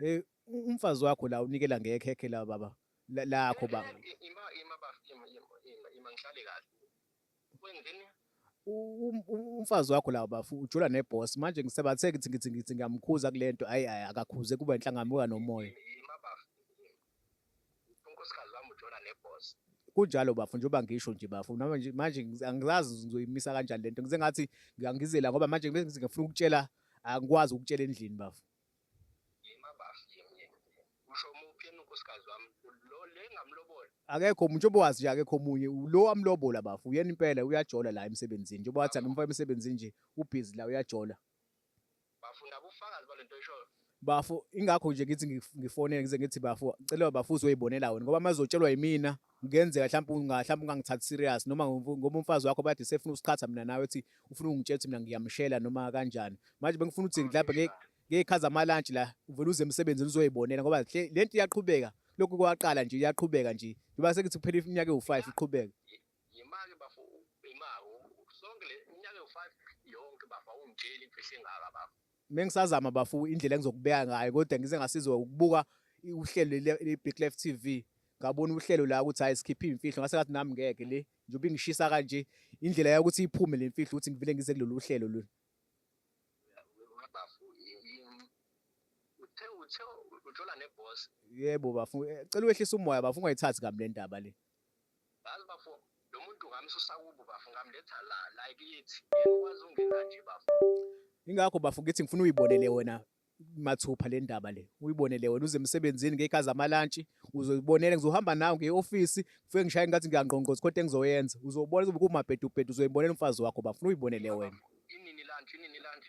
Eh umfazi wakho la unikela ngekhekhe la baba lakho ba. Ima ima ba ima ima ima ngihlale kahle. Wenzeni? Um, um, umfazi wakho lawo bafu ujula neboss manje ngisebathe ngithi ngithi ngithi ngiyamkhuza kulento hayi hayi akakhuze kuba inhlangamuka nomoya unkosikazi wami ujula neboss kunjalo bafu njengoba ngisho nje bafu manje manje angizazi ngizoyimisa kanjani lento ngize ngathi ngiyangizela ngoba manje ngifuna ukutshela angikwazi ukutshela endlini bafu Yima bafo yimi. Usho umuphi yena unkosikazi wami? Lo le ngamlobola. Akekho umuntu njengoba wazi nje akekho omunye ulo wamlobola bafo uyena impela uyajola la emsebenzini njengoba wathi angimfa emsebenzini nje ubhizi la uyajola Bafo nabo ufakazi balento eshoyo. bafo ingakho nje ngithi ngif- ngifonele ngize ngithi bafo cela bafo uzoyibonela wena ngoba mazotshelwa yimina kungenzeka mhlawumbe mhlawumbe ungangithathi serious noma ngoba umfazi wakho bathi sefuna usiqhatha mina nawe ethi ufuna ungitshela ukuthi mina ngiyamshela noma kanjani manje bengifuna ukuthi ngilaphe ngekhaza amalunch la uvela uze emsebenzini uzoyibonela ngoba le nto iyaqhubeka lokhu kwaqala nje iyaqhubeka nje njengoba sekuthi kuphela iminyaka ewu-5 iqhubeka yimake bafo imako sonke le iminyaka ewu-5 yonke bafo awungitsheli imfihlo engaka bafo mengisazama bafu indlela engizokubeka ngayo kodwa ngize ngasizwa ukubuka uhlelo le-Big Life TV ngabona uhlelo la ukuthi hayi sikhiphe imfihlo ngase ngathi nami ngeke le njengoba ingishisa kanje indlela yokuthi iphume le mfihlo ukuthi ngivele ngize kulolu hlelo lolu yebo bafu eh, cela wehlisa umoya bafu ungayithathi kabi le ndaba le Yazi bafo lo muntu ngamsusa kubo bafo ngamletha la la kithi. Ngikwazi ungena nje bafo. Ingakho bafo ngithi ngifuna uyibonele wena mathupha le ndaba le uyibonele wena uze emsebenzini ngey'khazi amalantshi uzoyibonela ngizohamba nawe ngiye-ofisi ngifike ngishaye ngathi ngiyangqongqoza khonto engizoyenza uzobona zobe kumabhedubhedu uzoyibonela umfazi wakho bafuna uyibonele wena inini lunch inini lunch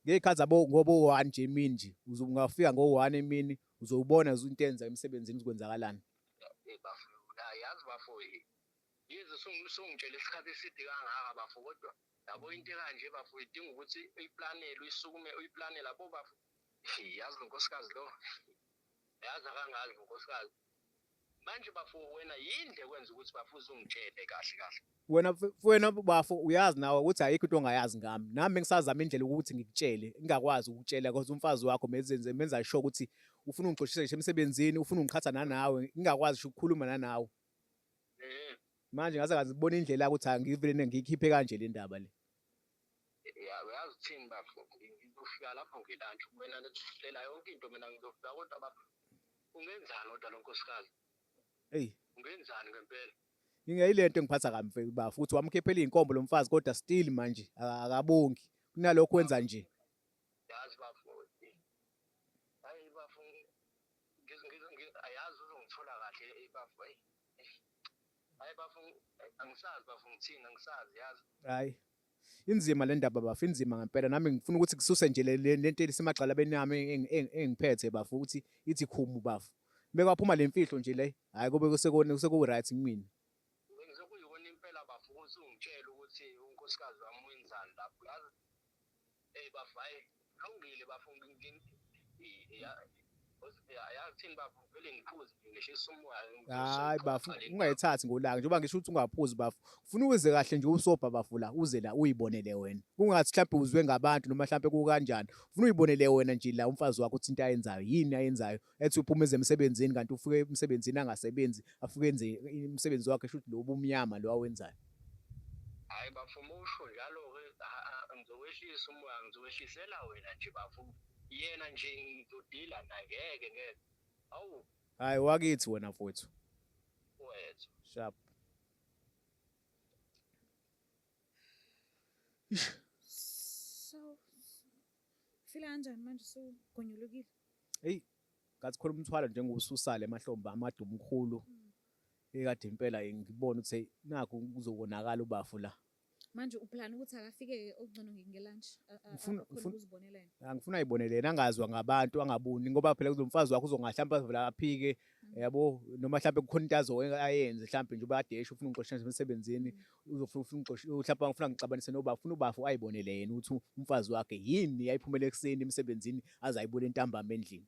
ngey'khathi zabo ngoba u-one nje emini nje ungafika ngo-one emini uzowubona into enza emsebenzini uzokwenzakalani Eh, bafo ah, yazi bafo eh, yize sungi- sungitshele isikhathi eside kangaka bafo kodwa yabo into ekanje bafo idinga ukuthi uyiplanele uyisukume uyiplanele abo bafo Hey, yazi lo nkosikazi lo yazi akangazi lo nkosikazi manje bafo wena yini le kwenza ukuthi bafo uzungitshele kahle kahle wena wena bafo uyazi nawe ukuthi ayikho into ongayazi ngami nami bengisazama indlela ukuthi ngikutshele ngingakwazi ukutshela because umfazi wakho mezenze menza sure ukuthi ufuna ungixoshisa ngisho emsebenzini ufuna ungiqhatha nanawe ngingakwazi ngisho ukukhuluma nanawe mm-hmm. manje ngase ngazibona indlela ukuthi angivele ngiyikhiphe kanje le ndaba le uyazi uthini bafo ngizofika lapho ngilantsha wena nethusela yonke into mina ngizofika kodwa bafo ungenzani kodwa lo nkosikazi eyi ungenzani ngempela Ingeyilento engiphatha kabi mfethu ba futhi wamkhiphela izinkombo lomfazi kodwa still manje akabongi kunalokho wenza nje. Yazi bafowethu. Hayi bafowethu. Ayazi uzongithola kahle bafowethu. Hayi bafowethu angisazi bafowethu ngithini angisazi yazi. Hayi. Inzima le ndaba bafo, inzima ngempela. Nami ngifuna ukuthi kususe nje le le- le nto elisemagxalabeni yami eng- eng- engiphethe bafo ukuthi ithi khumu bafo. Mekwaphuma le mfihlo nje le, hhayi kube kusekone- sekuwu-right kumina. Sekuyiwona impela bafo ukuthi ungitshele ukuthi unkosikazi wami wenzani lapho. Yazi Hey bafo hayi kulungile bafo ayathini bafo vele ngiphuze ngehlisa umoya hayi bafo ungayithathi ngolaka njengoba ngisho ukuthi ungaphuzi bafo ufuna uze kahle nje usobha bafo la uze la uyibonele wena kungathi mhlawumbe uzwe ngabantu noma mhlawumbe kukanjani ufuna uyibonele wena nje la umfazi wakho uthinta ayenzayo yini ayenzayo ethi uphuma ezemsebenzini kanti ufike emsebenzini angasebenzi afike enze umsebenzi wakhe shuthi lo ubumnyama lo awenzayo hayi bafo uma usho njalo ke ngizowehlisa umoya ngizowehlisela wena nje bafo yena nje ngizodila naye ngeke ngeke awu hayi wakithi wena mfowethu wethu sharp so Ufila kanjani manje usugonyolukile? Hey, ngathi khona umthwalo njengoba ususale emahlombe amade umkhulu. Mm. Ekade impela ngibona ukuthi nakho kuzokonakala ubafu la. Manje uplan ukuthi akafike okugcono ngelunch ngifuna ukuzibonela yena. Ah, ngifuna ayibonele yena angazwa ngabantu angabuni ngoba phela kuzomfazi wakho uzongahlamba vela aphike mm. yabo noma mhlawumbe kukhona into azo ayenze mhlawumbe nje ubadesha ufuna ungixosha emsebenzini mm. uzofuna ufuna ungixoshe uhlapha ngifuna ngixabanise noba ufuna ubafu ayibonele yena ukuthi umfazi wakhe yini yayiphumela ekuseni emsebenzini aze ayibule ntambama endlini